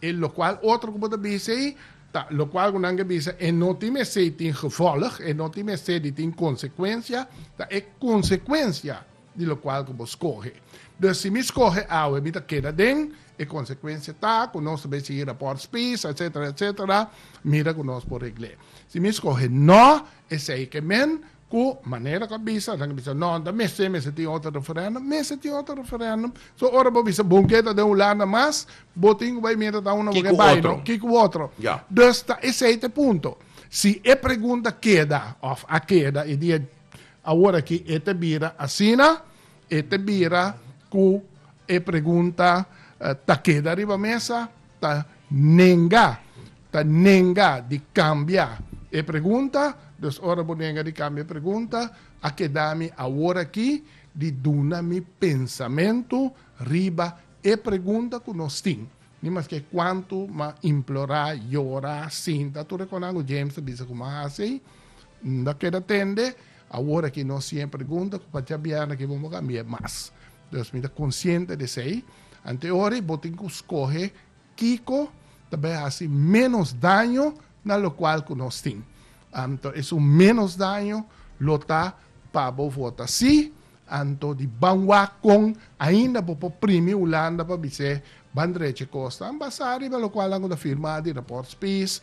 E locual otro cu bo ta bisa ei ta locual cu nan ke bisa e no tin mester tin gevolg, e no tin mester di tin consecuencia, ta e consecuencia di locual cu bo scoge. Dus si mi scoge awe mi ta keda den, e consecuencia ta cu nos ta bay sigui rapport spies, etcetera, etcetera, mira cu nos por regl'e. Si mi scoge no, esey ke men, Ku manera ku a bisa, nan a bisa, no, no ta mester, mester tin otro referendum. Mester tin otro referendum. So, ora bo bisa bon keda den Hulanda mas, bo tin ku bai mientras ta uno bo ke bai no. Ki ku otro. Dus ta esei ta e punto. Si e pregunta keda òf a keda e dia awor aki, e ta bira asina, e ta bira ku e pregunta ta keda riba mesa, ta nenga, ta nenga di kambia e pregunta, dus ora bo nenga di kambia e pregunta, a keda mi aworakí di duna mi pensamentu riba e pregunta ku nos tin. Ni mas ke kuantu m'a implorá, yora, sinta, tur e konan ku James ta bisa ku m'a hasi ei, N ta keda tende, aworakí nos tin e pregunta ku pa djabièrnè ke bo m'a kambia mas. Dus mi ta konsiente di esei. Ante ora bo tin ku skohe kiko ta bai hasi ménos daño na lokual ku nos tin. Anto esun ménos daño lo ta pa bo vota sí. Anto di banwak kon ainda bo por primi Hulanda pa bis'é Ban drecha e kosnan basá riba lokual nan ku ta firmá di rapòrt spis,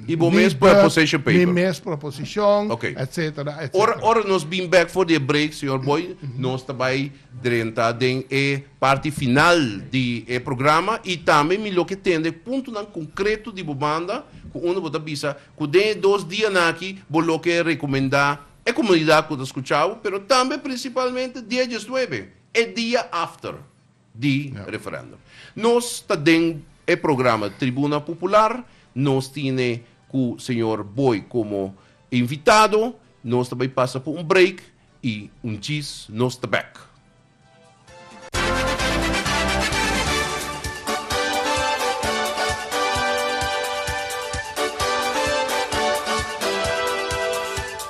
i bo mes proposition paper, mi mes proposishon, etsetera, etsetera. Ora nos bin bèk for di e break, señor Boy, nos ta bai drenta den e parti final di e programa i tambe mi lo ke tende e puntonan konkreto di bo banda ku unda bo ta bisa ku den e dos dianan aki bo lo ke rekomendá e komunidat ku ta skuchá bo, pero tambe prinsipalmente dia diesnuebe, e dia after. di referendum. Nos ta den e programa Tribuna Popular, nos tine cu señor Boy como invitado, nos ta bay pasa por un break y un djis nos ta bek.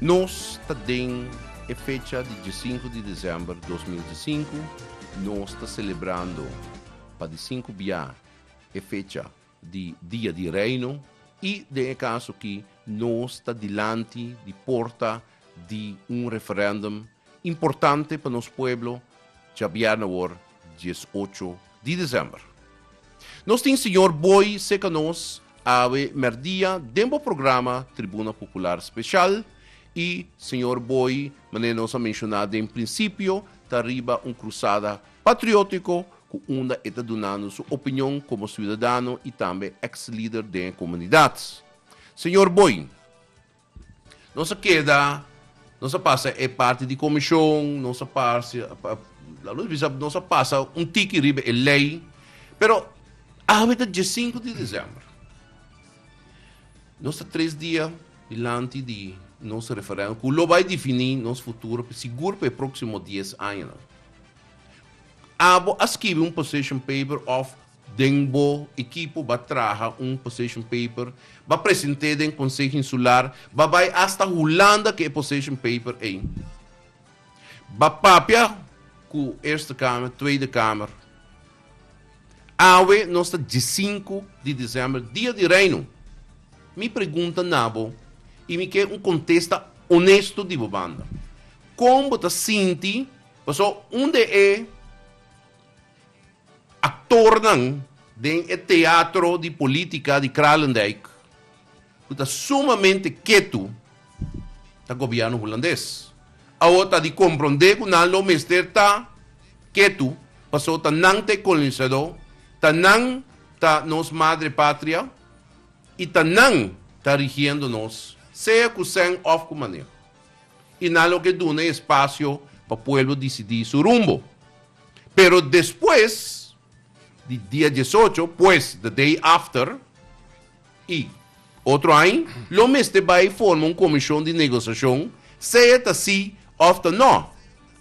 Nos ta den e fecha di diesinku di desèmber dos mil diesinku, nos ta selebrando pa di sinku bia e fecha di Dia di Reino i den e kaso akí nos ta dilanti di porta di un referendum importante pa nos pueblo djabièrnè awor dies ocho di december. Nos tin Señor Boy seca nos awe merdia den bo programa Tribuna Popular Special y Señor Boy mane nos a menciona den principio ta riba un crusada patriotico cu unda e ta dunando su opinion como ciudadano y tambe ex lider den e comunidad. Señor Boy, Nos a keda, nos a pasa e parti di komishon, nos a pasa, laat ons bisa, nos a pasa un tiki riba e lei, pero awe ta die sinku di desèmber. Nos ta tres dia dilanti di nos referèndum ku lo bai difiní nos futuro sigur pa e próksimo dies añanan. Abo a skibi un position paper òf. Den bo ekipo ba traha un position paper, ba present'é den Konseho Insular, ba bai asta Hulanda ku e position paper ei. Ba papia ku Eerste Kamer, Tweede Kamer. Awe nos ta diesinku di desèmber, Dia di Reino. Mi pregunta na bo i mi ke un kontesta onesto di bo banda. Kon bo ta sinti pasobra un de e. Aktornan den e teatro di politika di Kralendijk ku ta sumamente ketu ta gobièrnu hulandes. Awor ta di komprondé ku nan lo mester ta ketu pasó ta nan ta e kolonisadó, ta nan ta nos madre patria i ta nan ta rigiendo nos sea ku sèn òf ku maneho. I nan lo ke duna e espasio pa pueblo disidí su rumbo. Pero despues di dia diesocho, pues, the day after, i otro aña, lo mester bai forma un comishon di negociashon, sea ta si of ta no.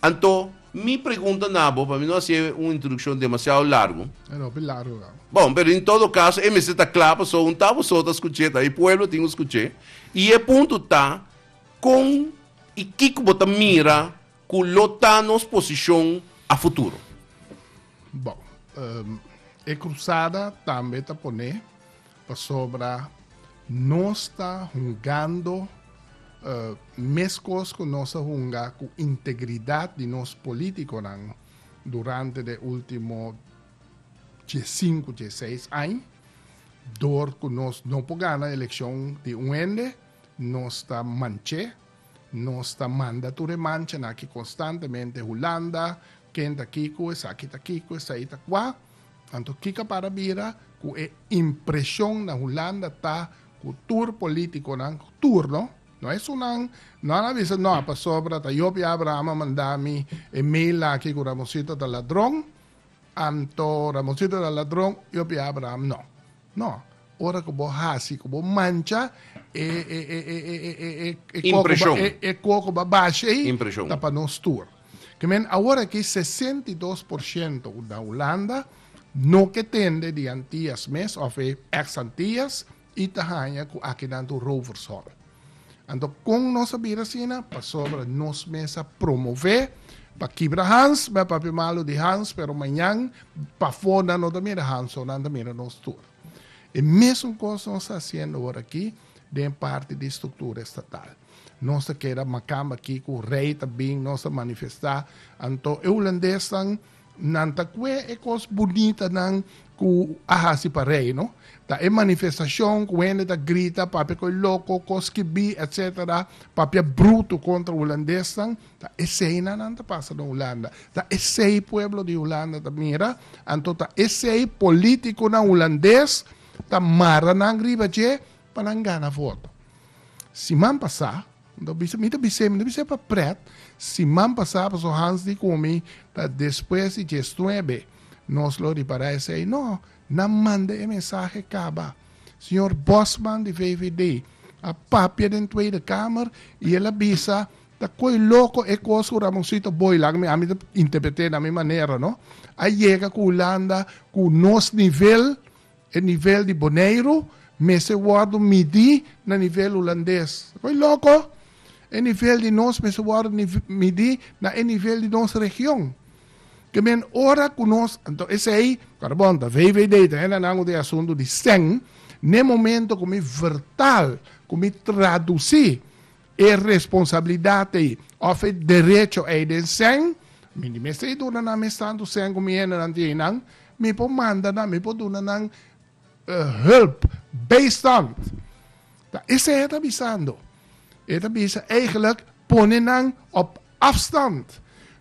Anto, mi pregunta na bo, pa mi no hacié un introduccion demasiado largo. E ta hopi largo ka. Bon, pero in todo caso, e mester ta cla paso un ta boso ta scuch'é, ta e pueblo tin cu scuch'é. I e punto ta, con i kico bo ta mira, Cu lo ta nos posicion a futuro? Bo, e cruzada tambe ta pone pasobra nos ta hungando mescos cu nos a hunga cu integridad di nos politiconan durante de ultimo die sinku, die seis aña. Door cu nos no por gana eleccion di un hende, nos ta manche. Nos ta manda tur e manchanan aki konstantemente, Hulanda, ken ta kico, esaki ta kico, esai ta kua. Anto kica para bira cu e impresion na Hulanda ta cu tur politiconan, tur no, no es unan, no a na bisa no, pasobra ta yo Pia Abraham a manda mi e mail aki cu Ramosito ta ladron, Anto Ramoncito ta ladron, yo pia Abraham no. No, ora ku bo hasi ku bo mancha e koko ku bo a basha ei ta pa nos tur. Ke men awor aki sesenta i dos por shento ku ta Hulanda no ke tende di Antias mes of e eks Antias, I ta haña ku akinan ta un rovershol. Anto kon nos a bira asina? Pasobra nos mes a promové pa kibra hans, m'a papia malu di hans, pero mañan pafó nan no ta mira hansonnan, ta mira nos tur. E mesun kos nos ta hasiendo ora akí den parti di struktura estatal. Nos ta keda makamba akí ku rei ta bin, nos ta manifestá. Anto e hulandes nan. Nan ta kue e kos bunitanan ku a hasi pa Reino. Ta e manifestashon ku hende ta grita, papia koi loko, kos kibí, etc. Papia brutu kontra hulandesnan. Ta esei nan nan ta pasa den Hulanda. Ta esei pueblo di Hulanda ta mira. Anto ta esei polítikonan hulandes ta mara nan riba dje pa nan gana voto. Siman pasá. Unda bisa, mi ta bis'é, mi ta bis'é pa prèt, siman pasá paso Hans di ku mi ta despues di djes nuebe nos lo ripará esei. No, nan manda e mensahe kaba. Señor Bosman di VVD a papia den Tweede Kamer i el a bisa, Ta koe loko e kos ku Ramonsito Booi laga mi, ami ta interpret'é na mi manera no, a yega ku Hulanda ku nos nivel, E nivel di Boneiru mester wòrdu midí na nivel Hulandes. Koe loko? E nivel di nos mester wòrdu midí na e nivel di nos region. Ke men ora ku nos, anto esei, ta bon, ta VVD, ta henda nan ku tin e asuntu di sèn, n'e momento ku mi vèrtal, ku mi tradusí, E responsabilidat ei òf e derecho ei den sèn, mi di mester i duna nan mes tantu sèn ku mi hendenan tin einan, mi por manda nan, mi por duna nan hùlp, beistand. Ta esei e ta bisando. E ta bisa, eigelijk pone nan op. Afstand.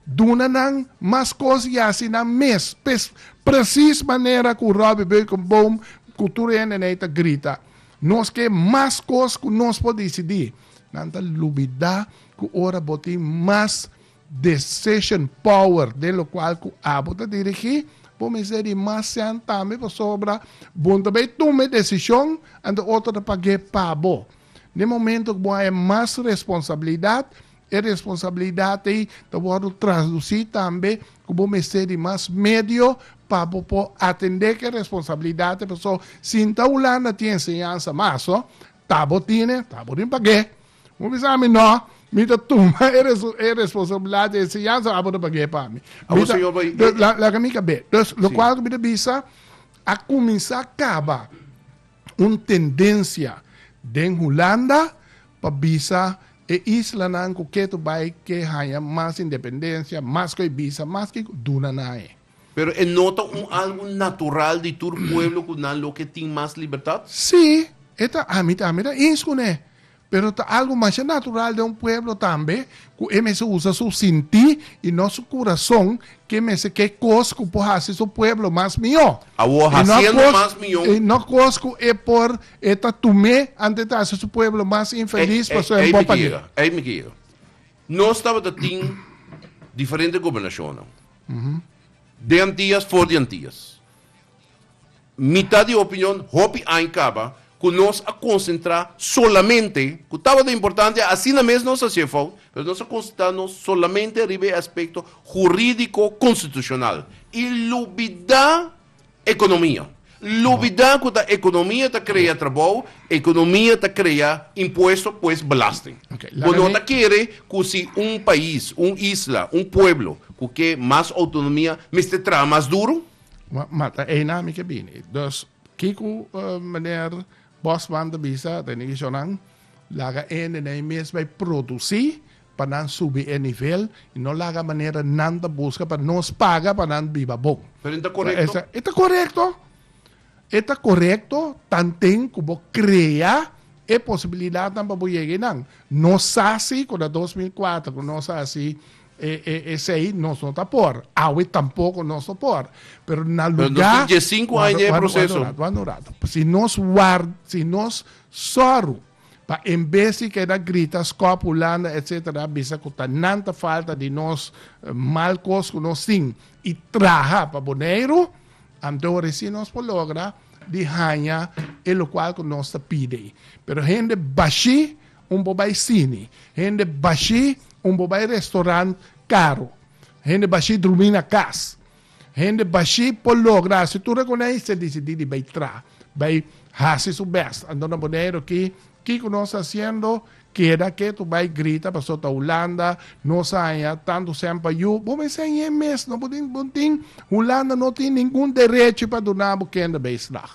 Duna nan mas kos i hasi nan mes, pes, presis manera ku Robbie Beukeboom ku tur hende n'ei ta grita, Nos ke mas kos ku nos por disidí. Nan ta lubidá ku ora bo tin mas decision power den lokual ku abo ta dirigí, bo mes ta di mas sèn tambe pasobra bo ta bai tuma e desishon anto otro ta pag'é pa bo. Den momentu ku bo haña mas responsabilidat, E responsabilidat ei ta wòrdu trasdusí tambe ku bo mester di mas medio pa bo por atendé ku e responsabilidatnan. Pasó, sinta Hulanda tin enseñansa mas, so ta bo tine, ta bo tin pag'é. Bo bisa ami, No, mi ta tuma e e responsabilidat, e enseñansa abo ta pag'é pa mi. Abo señor bo i. Laga mi kab'é. Entonces, lokual ku mi ta bisa, a kuminsá kaba un tendensia den Hulanda, pa bisa e islanan ku ke to bai ke haña mas independensia, mas ku e bisa, mas ke ku duna nan e. Pero e no ta un algu natural di tur pueblo ku nan lo ke tin mas libertat? Sí, e ta. Ami ta ami ta ins ku ne. Pero ta algu masha natural den un pueblo tambe ku e mester usa su sinti i no su kurason ke mester ke kos ku por hasi su pueblo mas mihó. Awor, hasiendo mas mihó. I no kos ku e por E ta tum'é antes di hasi su pueblo mas infelis, pasobra e bopa di. Ei mi ke yega. Nos tabata tin diferente gobernashonnan. Den Antias, for di Antias. Mi ta di opinion, hopi aña kaba, ku nos a konsentrá solamente, ku tabata importante, asina mes nos hasié fout, pero nos a konsentrá nos solamente riba e aspekto hurídiko konstitushonal, i lubidá Economia. Lubida cu ta economia ta crea trabou, economia ta crea impuesto, pues belasting. Bo no ta kere cu si un pais, un isla, un pueblo cu ke mas autonomia mester traha mas duro? Ma ta eyna mi ke bini. Dus, kico meneer Bosman ta bisa, Rene Guichonnan, laga ende na e mes bay produci Pa nan subi e nivel y no laga manera nan ta busca pa nos paga pa nan biba bon. Pero e ta corecto? E ta corecto. E ta corecto tanten cu bo crea e posibilidadnan pa bo yega enan. Nos sa si cu na dos mil cuater cu nos a haci esey nos no ta por. Awe tampoco nos no por. Pero na lugar. Pero nos tin diescinco aña den e proceso. Word un rato, word un rato. Si nos ward, si nos sor. Pa enbes di keda grita, skòp, hulanda, etc. Bisa ku ta nan ta falta di nos mal kos ku nos tin i traha pa Boneiru, anto resi nos por logra di haña e lokual ku nos ta pidi ei. Pero hende bashí un por bai sini, hende bashí un por bai restorant karu, hende bashí drumí na kas. Hende bashí por logra hasi tur rekoneis e disidí di bai tra, bai hasi su bèst. Anto na Boneiru ki, kiko nos ta hasiendo? Keda ketu bai grita paso ta Hulanda, nos a haña tantu sempa yu. Bo mester hañ'é mes, no? Bo tin, bo tin, Hulanda no tin ningun derechi pa duna bo kende bai estrag.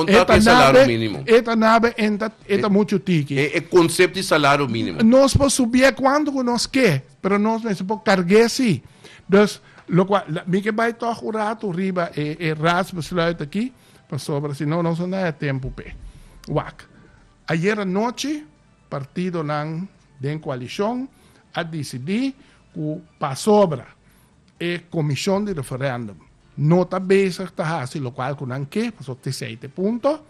E ta nabe, e ta nabe en ta, e ta muchu tiki. E konsept di salario minimo. Nos por subié kuantu ku nos ke, pero nos mester por karg'é sí. Dus, Lokua mi ke bai tog un ratu riba e raadsbesluit aki, pasobra si no nos no ta haya tempu p'e. Wak. Ayer anochi partidonan den coalicion a dicidi cu pasobra e comision di referendum no ta bezig ta haci locual cu nan ke, pasobra tisei ta e punto,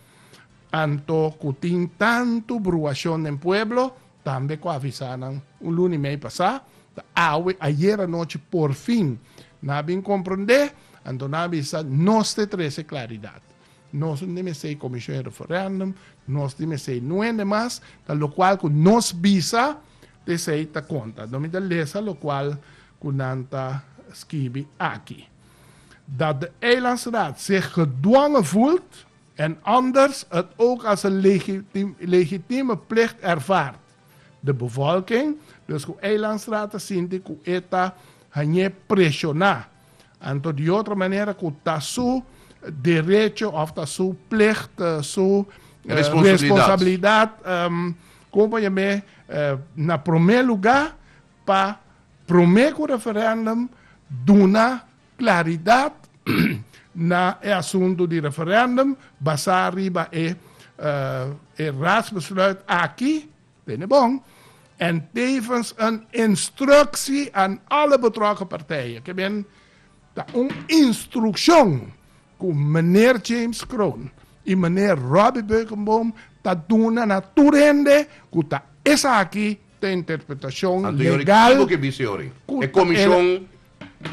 anto cu tin tanto bruacion den pueblo, Tambe cu a avisa nan un luni mei pasá, ta awe, ayer anochi por fin nan a bin comprende, anto nan a bisa nos te trece claridad. Nos no mester e comision e referendum, nos no mester nuende mas, ta locual cu nos bisa ta esey ta conta. Anto mi ta lesa locual cu nan ta skibi aki. Dat de Eilandsraad zich gedwongen voelt En anders het ook als een legitieme plicht ervaard. De bevolking, dus ku Eilandstraat a sinti ku e ta hañ'é preshoná, anto di otro manera ku ta su derecho òf ta su plicht, su responsabilidat, komo pa yam'é, na promé lugá pa promé ku referèndum duna Claridad na e asunto di referendum basá riba e Raadsbesluit aki, benebon, en tevens een instructie aan alle betrokken partijen, ke men ta un instruccion ku Meneer James Kroon i Meneer Robbie Beukenboom ta duna na tur hende ku ta esaki ta interpretacion legal ku ta.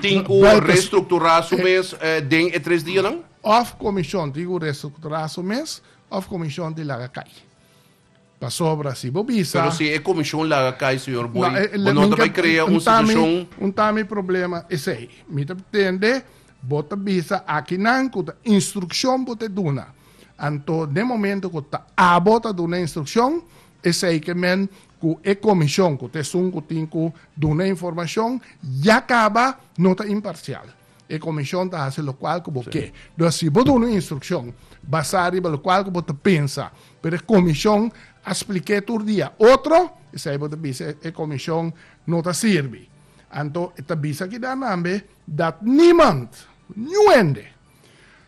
tin ku restrukturá su mes den e tres dianan. Òf komishon tin ku restrukturá su mes òf komishon tin laga kai. Pasobra si bo bisa. Pero si e komishon laga kai señor Boy, bo no ta bai krea un situashon. Un ta mi problema esei. Mi ta pretende bo ta bisa akinan ku ta instrukshon bo ta duna. Anto den momento ku ta abo ta duna instrukshon, esei ke men Ku e komishon, ku ta esun ku tin ku duna informashon, ya kaba no ta imparsial. E komishon ta hasi lokual ku bo ke. Dor si bo duna un instrukshon basá riba lokual ku bo ta pensa, pero e komishon a splik'é tur dia otro, esei bo ta bisa e komishon no ta sirbi. Anto e ta bisa kida nambe dat niemand, niuende.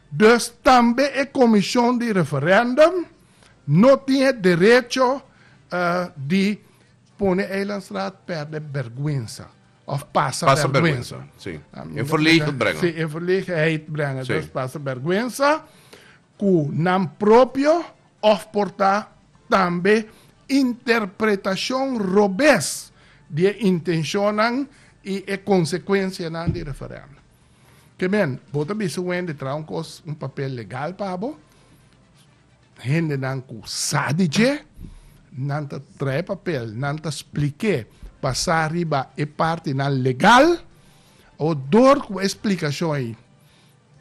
Dus tambe e komishon di referèndum no tin e derecho di pone Eilandstraat perde bergwensa of pasa bergwensa. In verlegenheid brengen. Dus pasa bergwensa ku nan propio of por ta tambe interpretashon robes di e intenshonnan i e konsekuensianan di referendum. Ke men, bo ta bisa Wendy traha un kos, un papel legal pa bo. Hendenan ku sa di dje, nan ta trae papel, nan ta spliké basá riba e partinan legal. Dor ku e splikashon ei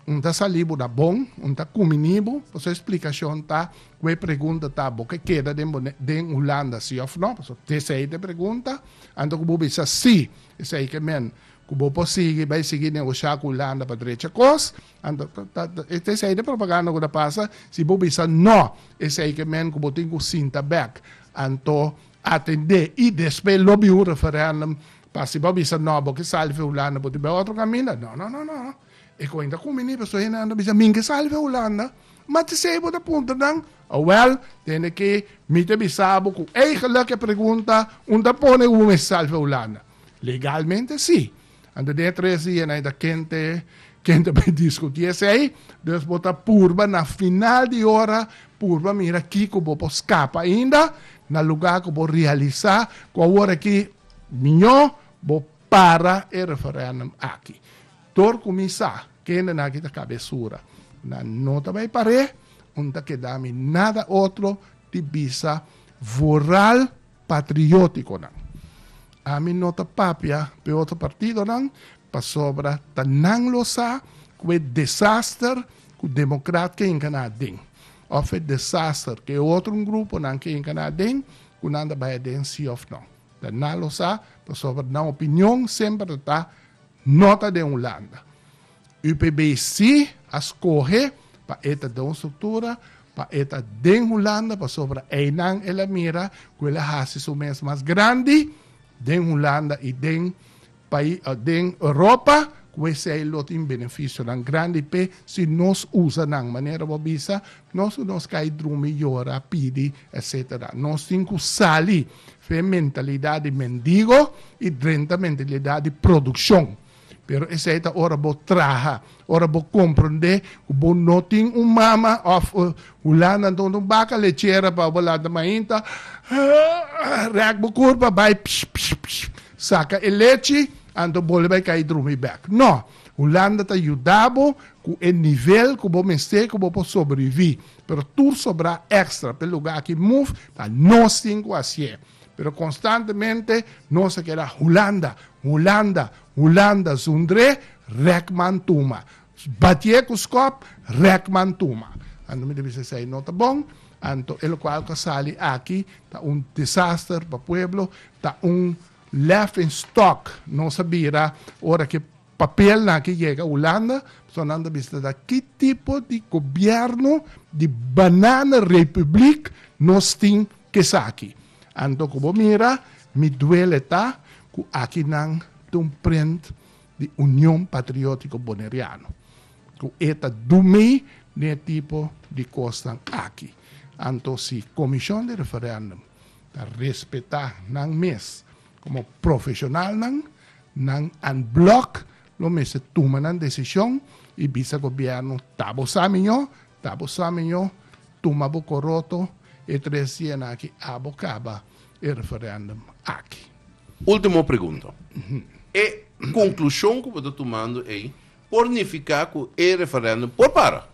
un ta salí bo na bon, un ta kuminí bo, pasobra e splikashon ta ku e pregunta ta, Bo ke keda den den Hulanda, sí òf nò? Pasobra te esei ta e pregunta. Anto ku bo bisa sí, esei ke men ku bo por sigui bai sigui negoshá ku Hulanda pa drecha kos. Anto, ta, ta, ta esei den propaganda ku ta pasa, si bo bisa no, esei ke men ku bo tin ku sinta bèk, anto atendé i despues lo biu un referèndum, pa si bo bisa no, bo ke sali for Hulanda, bo tin biau otro kaminda. No, no, no, no, e kuenta ku mi ni paso hende nan ta bisa mi ke sali for Hulanda, ma te esei bo ta puntra nan, wèl, tene ke mi ta bisa bo ku eigelik e pregunta un ta pone, Hu mi mester sali for Hulanda? Legalmente si. Ante de e tres dia nai ta kente, kente bay diskutí esei, dus bo ta purba na final di ora purba mira kiko bo por skapa ainda na lugá ku bo realisá ku awor aki miñó bo para e referèndum aki. Dor ku mi sa kendenan aki ta kabesura, nan no ta bay par'é, un ta keda mi nada otro di bisa voral. patriótikonan. Ami no ta papia p'e otro partidonan pasobra ta nan lo sa ku e desaster ku democrat ke yega na aden òf e desaster ku e otro gruponan ke yega na aden ku nan ta bai aden si òf no. Ta nan lo sa pasobra nan opinion semper ta ta no ta den Hulanda. UPBC a skohe pa e ta den un struktura, pa e ta den Hulanda, pasobra einan el a mira ku el a hasi su mes mas grandi den Hulanda i den pai, den Europa, ku esei lo tin benefisionan grandi p'e si nos usa nan manera bo bisa, nos ku nos kai drumi, yora, pidi, etsetera. Nos tin ku sali f'e mentalidat di mendigo i drenta mentalidat di produkshon. Pero esei ta ora bo traha, ora bo komprondé ku bo no tin un mama òf Hulanda anto un baka lechera pa bo lanta mainta rèk bo kur pa bai psh psh psh saka e lechi anto bo lo bai kai drumi bèk. No! Hulanda ta yuda bo ku e nivel ku bo mester ku bo por sobreviví, pero tur sobrá èkstra. P'e lugá aki move ta nos tin ku hasié. Pero constantemente nos a keda Hulanda, Hulanda, Hulanda, zundre, Rekman tuma. Batié cu scop, Rekman tuma. Anto mi ta bisa esai no ta bon, anto e locual cu a sali aki ta un desaster pa pueblo, ta un laughing stock. Nos a bira ora cu e papelnan aki yega Hulanda, pasobra nan ta bisa ta da ki tipo di gobierno di banana republiek nos tin Cu esaki? Anto cu bo mira, mi duele ta cu aki nan ta un prent di Union Patriotico Boneriano, cu e ta dumi den e tipo di cosnan aki. Anto si Comision di Referendum ta respeta nan mes como profesionalnan, nan en bloc lo mester tuma nan decision y bisa Gobierno ta bo sa mijo, ta bo sa mijo, Tuma bo koroto e tres yena aki abo kaba e referendum aki. Ultimo pregunta. E konklushon ku bo ta tumando ei por nifiká ku e referendum por para?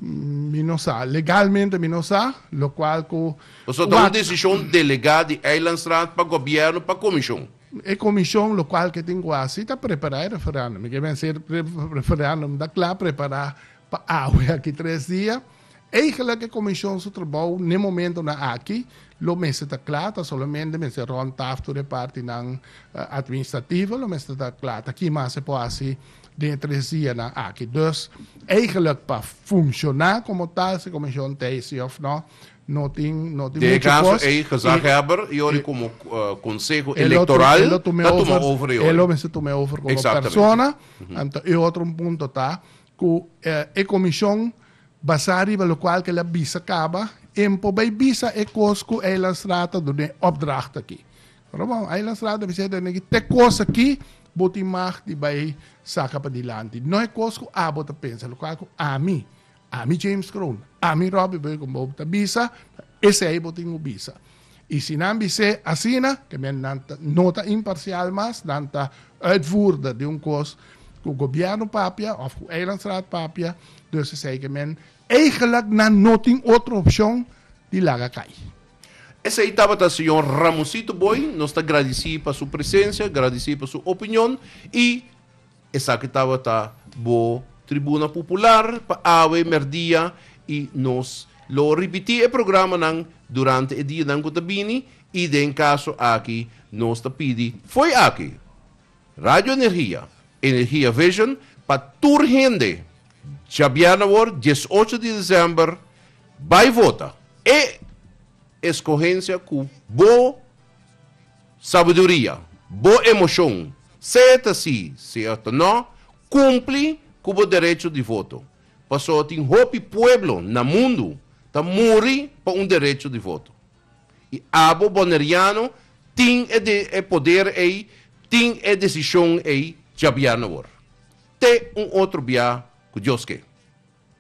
Mi no sa. Legalmente mi no sa, lokual ku. Pasobra ta un desishon delegá di Eilandsraad pa gobièrnu, pa komishon. E komishon lokual ke tin ku hasi ta prepará e referendum. Mi ke mester referendum ta kla prepará Pa awe aki tres dia. Eigenlijk e comision su trabou n'e momentonan aki lo mester ta cla, ta solamente mester rond taftur e partinan administrativo, lo mester ta cla ta ki mas e por haci den e tres dianan aki. Dus, eigenlijk pa funciona como tal si e comision ta ey si of no, no tin, no tin mucho cos. Den e caso ey, gezaghebber y ori como Conseho Electoral ta tuma over y ori. Elo mester tuma over como persona. Anto e otro un punto ta, Ku e komishon basá riba lokual ku el a bisa kaba, en por bai bisa e kos ku Eilandstra ta dun'é opdracht akí. Ora bon, Eilandstra ta bisa e dueño akí, Te kos akí bo tin mag di bai saka padilanti. No e kos ku abo ta pensa, lokual ku ami, ami James Kroon, ami Robbie Burgum bo ta bisa, esei bo tin ku bisa. I si nan bis'é asina, ke men nan ta, no ta imparsial mas, nan ta uitvoerder di un kos ku gobièrnu papia òf ku Eilandstraat papia, dus esei ke men eigenlik nan no tin otro opshon di laga kai. Esei tabata señor Ramosito Booi, nos ta gradisí pa su presensia, gradisí pa su opinion i. Esaki tabata bo Tribuna Pupular pa awe merdia i nos lo ripití e programanan durante e dianan ku ta bini i den kaso aki nos ta pidi fo'i aki Radio Energia, Energia Vision pa tur hende djabièrnè awor dies ocho di desèmber bai vota e eskohensia ku bo Sabiduria, Bo emoshon, sea e ta sí, sea e ta no, kumpli ku bo derecho di voto, pasobra tin hopi pueblo na mundu ta muri pa un derecho di voto. I abo boneriano tin e e poder ei, tin e desishon ei djabier na wor. Te un otro bia ku Dios ke.